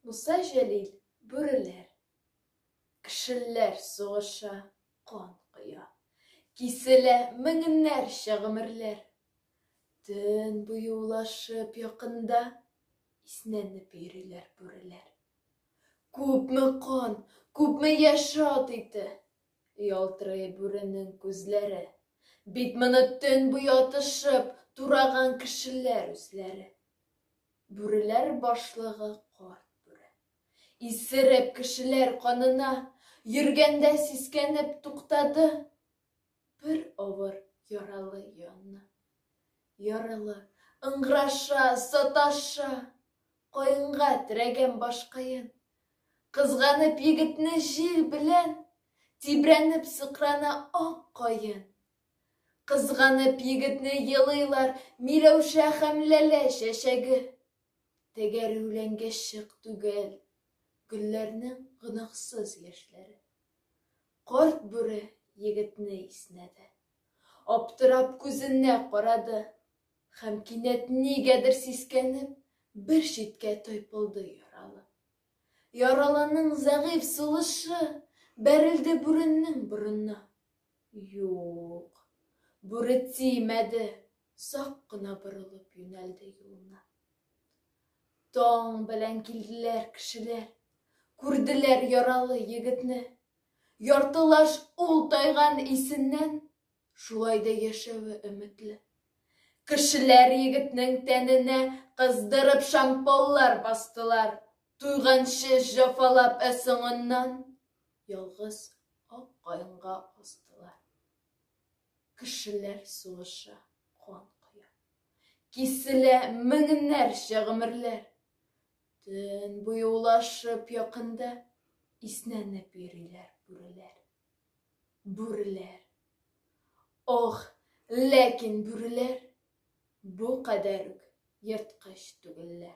Муса Җәлил, бүреләр, кешеләр сугыша, кан коя. Киселә меңнәрчә гомерләр. Төн буе улашып якында иснәнеп йөриләр бүреләр. Күпме кан, күпме яшь ат ите, ялтырый бүренең күзләре. Бит моны төн буе атышып, тураган кешеләр үзләре. Бүреләр башлыгы Карт бүре. Исереп, кешеләр канына Йөргәндә сискәнеп туктады. Бер авыр яралы янына. Яралы, ыңгыраша, саташа, Каенга терәгән башкаен. Кызганып егетне җил белән, Тибрәнеп сыкрана ак каен. Кызганып егетне елыйлар Миләүшә һәм Ләлә чәчәге. Тәгәрүләнгә чык түгел Гөлләрнең гөнаһсыз яшьләре. Карт бүре егетне иснәде. Аптырап күзенә карады. Һәм кинәт нигәдер сискәнеп, бер читкә тайпылды яралы. Яралының зәгыйфь сулышы бәрелде бүренең борынына. Юк. Бүре тимәде, сак кына борылып юнәлде юлына. Таң белән килделәр кешеләр, күрделәр яралы егетне. Яртылаш ул тайган исеннән, шулай да яшәве өметле. Кешеләр егетнең тәненә кыздырып шампаллар бастылар, туйганчы җафалап ә соңыннан Ялгыз ак каенга астылар. Кешеләр сугыша, кан коя. Киселә меңнәрчә гомерләр. Төн буе улашып якында Иснәнеп йөриләр бүреләр. Бүреләр. Ох, ләкин бүреләр Бу кадәр үк ерткыч түгелләр.